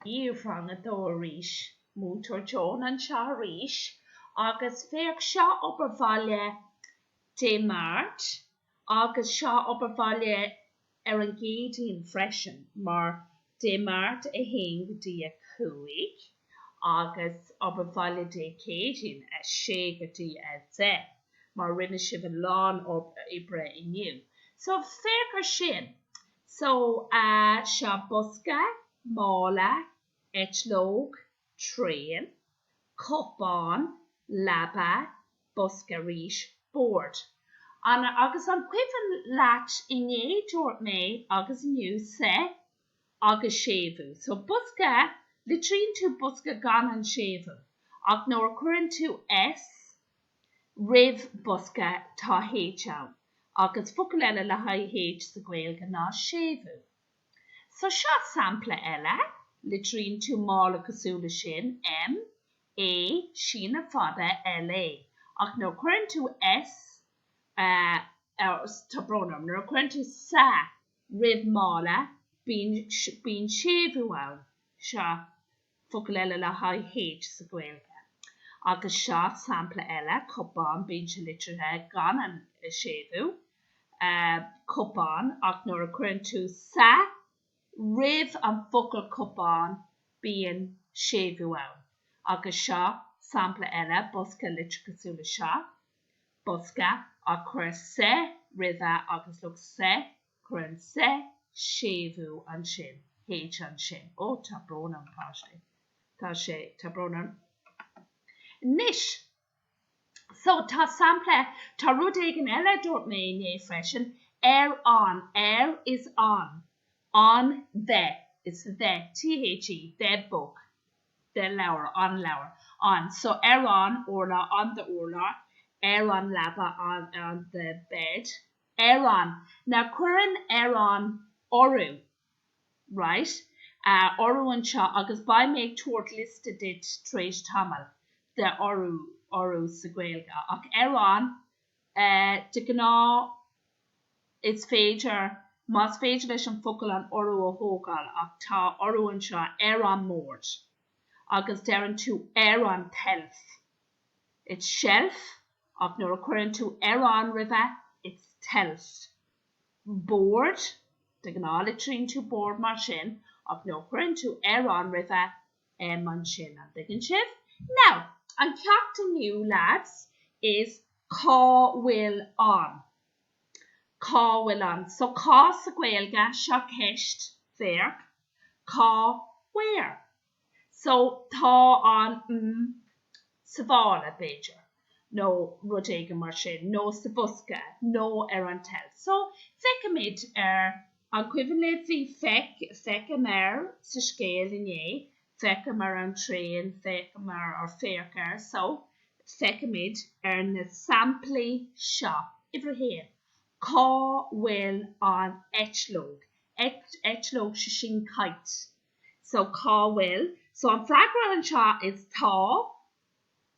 Uimhir a dó arís. Múinteoir Joan anseo arís agus féach seo obair bhaile Dé Máirt agus seo obair bhaile ar an gCéadaoin freisin mar Dé Máirt 1 go dtí 5 agus obair bhaile Dé Céadaoin 6 go dtí 10 mar rinne sibh a lán oibre inniu so féach ar sin. So, sa, bosca, mála, eitleog, traein, cupán, leaba, bosca arís, bord. Agus an cuimhin leat inné dúirt mé agus inniu sa? Agus séimhiú. So, bosca, litríonn tú bosca gan an séimhiú, ach nuair a chuireann tú S. roimh bosca Tá H ann agus focal eile le haghaidh H sa Ghaeilge ná séimhiú. So seo sampla eile, litríonn tú mála cosúil le sin, M, A, síneadh fada, LA, ach nuair a chuireann tú S, tá brón orm, nuair a chuireann tú sa roimh mála, bíonn séimhiú ann. Seo focal eile le haghaidh H sa Ghaeilge. Agus seo sampla eile, cupán, bíonn sé litrithe, gan an séimhiú, cupán, ach nuair a chuireann tú sa roimh an focal cupán bíonn séimhiú ann. Agus seo sampla eile, bosca, litrithe cosúil le seo, bosca, ach cuir sa roimhe agus look, sa Cuireann sé séimhiú ansin H ansin. Ó, tá brón orm páistí. Tá sé, tá brón orm. Anois, so, tá sampla, tá rud éigin eile a dúirt mé inné freisin, ar an, ar is on, an the, is the, THE, the book, the leabhar, an leabhar, an, so, ar an urlár, on the urlár, ar an leaba, on the bed, ar an, ná cuireann ar an urú, right? a urú anseo agus beidh mé ag tabhairt liosta duit tar éis tamaill de urú, urú sa Ghaeilge, ach ar an, eh, de ghnáth is féidir, más féidir leis an focal an urú a thógáil ach tá urú anseo ar an mbord agus deireann tú ar an tseilf, it's seilf ach nuair a chuireann tú ar an roimhe it's tseilf bord de ghnáth litríonn tú bord mar sin ach nuair a chuireann tú ar an roimhe m ansin an dtuigeann sibh now an ceacht inniu leaids is cá bhfuil an cá bhfuil an so cá sa Gaeilge seo ceist féach cá where. So, tá an, mm, sa mhála, b'fhéidir, nó rud éigin mar sin, nó sa bhosca, nó ar an tseilf. So, feicimid ar, an cuimhin libh, bhí feic, feicim ar sa scéal inné, feicim ar an traein, feicim ar, or féach ar. So, feicimid ar na samplaí seo. Uimhir a haon, cá bhfuil an eitleog? Eit, eitleog, 'sé sin kite. So, cá bhfuil? So, an freagra anseo is tá,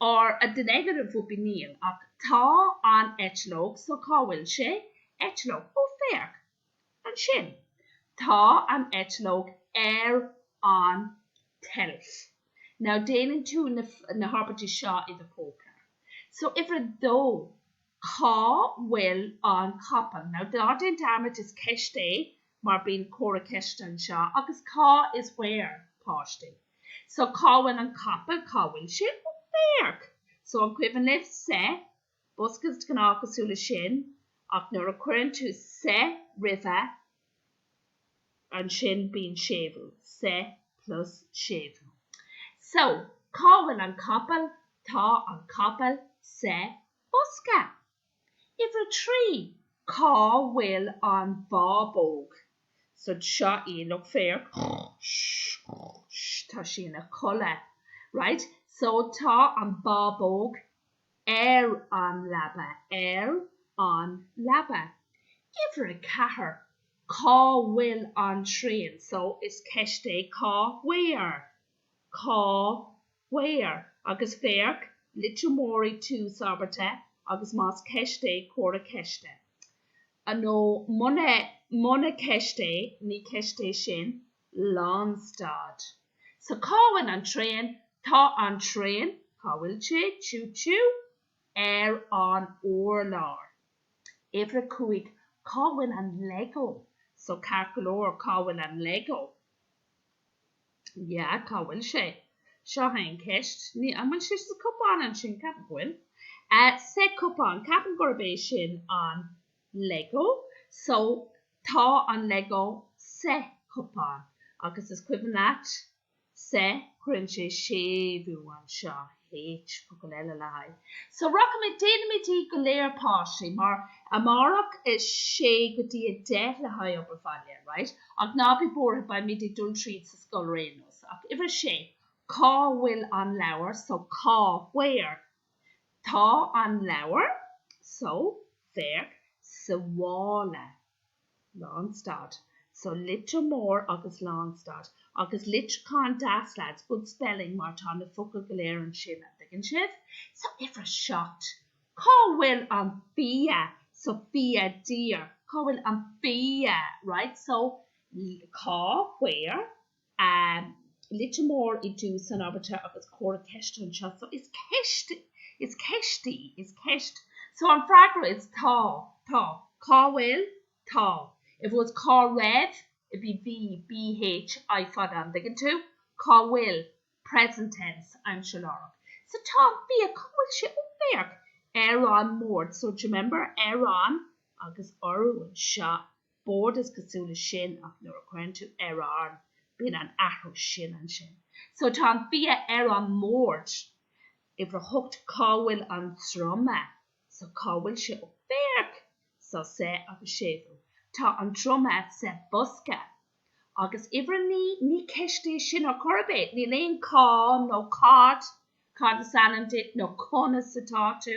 or the negative would be níl, ach tá an eitleog, so cá bhfuil sé? eitleog, oh, féach! ansin, tá an eitleog ar an tseilf. Now, déanann tú na, na habairtí seo i do chóipleabhar. So, uimhir a dó, cá bhfuil an capall? Now, ná déan dearmad is ceist é mar bíonn comhartha ceiste anseo, agus cá is where? páistí. So cá bhfuil an capall, cá bhfuil sé? Féach! So an cuimhin libh sa? Bosca is de ghnáth cosúil le sin, ach nuair a chuireann tú sa roimhe, ansin bíonn séimhiú, sa plus séimhiú. So, cá bhfuil an capall? Tá an capall sa bhosca. Uimhir a trí, cá bhfuil an bábóg? So seo í, look féach, tá sí ina codladh, right, so tá an bábóg ar an leaba, ar an leaba. Uimhir a ceathair, cá bhfuil an traein? So is ceist é cá where? Cá where, agus féach, litir mhór i dtús abairte agus más ceist é, comhartha ceiste. Nó muna, muna ceist é, ní ceist é sin. Lánstad. So cá bhfuil an traein? Tá an traein, cá bhfuil sé? Choo choo? Ar an urlár. Uimhir a cúig, cá bhfuil an Lego? So ceart go leor, cá bhfuil an Lego? Ya, cá bhfuil sé? Seo é an ceist. Ní, an bhfuil sé sa cupán ansin? Ceapaim go bhfuil. Eh, sa cupán, ceapaim gurb é sin an Lego. So, tá an Lego sa chupán. Agus is cuimhin leat, sa cuireann sé séimhiú anseo, H, focal eile le haghaidh. So, rachaimid, déanfaimid iad go léir páistí, mar, amárach is 6 go dtí 10 le haghaidh obair bhaile, right? Ach ná bí buartha, beimid ag dul tríd sa scoil ar aon nós. Ach uimhir a sé, cá bhfuil an leabhar? So, cá, where? Tá an leabhar? So, féach, sa mhála. Lánstad. So litir mór agus lánstad. Agus litriúchán deas lads, good spelling mar tá na focail go léir ansin, an dtuigeann sibh? So uimhir a seacht, cá bhfuil an bia? So bia there. Cá bhfuil an bia? Right? So cá where? a litir mór i dtús an abairte agus comhartha ceiste anseo. So, is ceist, is ceist í, is ceist. So, an freagra is tá, tá. Cá bhfuil? Tá. If it was cá raibh, it'd be bhí, bh, I fada, an dtuigeann tú? Cá bhfuil? Present tense, aimsir láithreach. So, tá an bia, cá bhfuil sé? Ó, féach. Ar an mbord. So, d'you remember? Ar an. Agus urú anseo. Bord, is cosúil leis sin, ach nuair a chuireann tú ar an, bíonn an athrú sin ansin. So tá an bia ar an mbord. Uimhir a hocht, cá bhfuil an druma? So cá bhfuil sé? Ó, féach! So sa agus séimhiú. Tá an druma sa bhosca. Agus uimhir a naoi, ní ceist í sin ar chor ar bith. Níl aon cá nó cad, cad is ainm duit nó conas atá tú.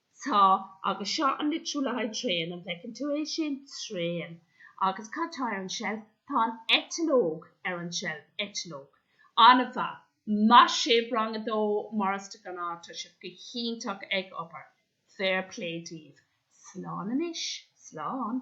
Tá, agus seo an litriú le haghaidh traein, an bhfeiceann tú é sin? traein. Agus cad tá ar an tseilf? Tá an eitleog ar an tseilf. eitleog. An-mhaith. Maith sibh, rang a dó, mar is de ghnáth, tá sibh go hiontach ag obair. Fair play daoibh. Slán anois. Slán.